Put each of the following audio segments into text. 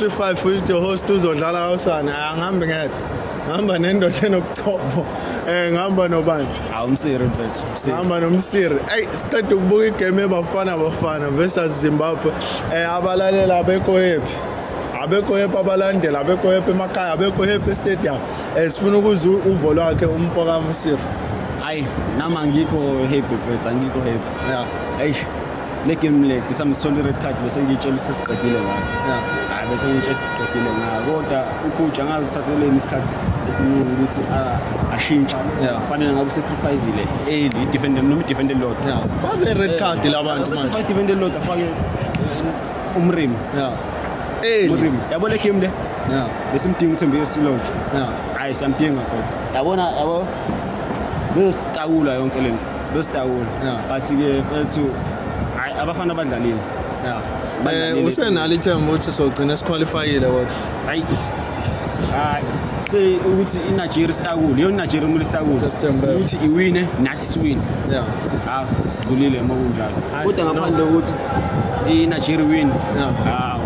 35 with your host uzodlala kawusana angihambi ngedwa ngihamba nendoda enobuchopho um ngihamba nobani awumsiri mfethu ngihamba nomsiri eyi siqeda ukubuka igame ebafana bafana versus zimbabwe um abalalela abekho yephi abekho hephi abalandeli abekho hephi emakhaya abekho hephi estadium um sifuna ukuze uvo lwakhe umfo kamsiri hayi nama ngikho happy mfethu angikho happy ya eish le game le ngisa ngisole i-red card bese ngiyitshela ukuthi sesiqedile ngayo hayi bese ngiyitshela sesiqedile ngayo kodwa ucoach angazi uthatheleni isikhathi esiningi ukuthi a- ashintshe Yeah. kufanele ngabe usacrificile early idefende noma idefende lodwa babe red card la bantu manje sacrifice idefende lodwa afake eh, umrimi yeah eli umrimi yabo le game le yeah besimdinga uthembe yesilonje yeah hayi samdinga futhi yabona yabo bezositakula yonke lento besidawula Yeah. but ke mfethu hayi abafana badlalile Yeah. Badlalile Eh usenalo ithemba ukuthi sogcina siqualifyile kodwa. hayi hayi se ukuthi iNigeria sitakule yona iNigeria kumele sitakule Just tembe. ukuthi iwine nathi siwine Yeah. hawu sidlulile uma kunjalo Hayi, kodwa no. ngaphandle kokuthi iNigeria win Yeah. hawu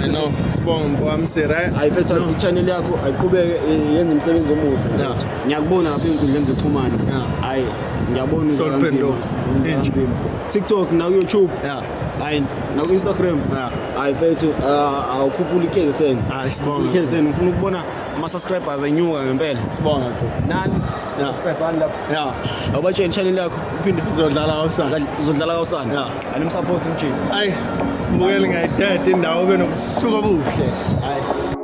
I know. Sibonga mfowami Sira. ayiphetha i-channel yakho ayiqhubeke eh, yenze umsebenzi omuhle Yeah. ngiyakubona lapha ey'nkundleni zokuxhumana hhayi ngiyabona inzima tiktok nakuyoutube hhayi naku-instagram hhayi fethu ah, awukhuphula ikhezeseni ikhezeseni ngifuna ukubona ama-subscribers enyuka ngempela sibonga nani subscribani lapho ya awubatsheni channel yakho uphinde uzodlala kawusana uzodlala kawusana ya animsupport mjini ayi mbukeli ngayithethe indawo benobusuku obuhle hayi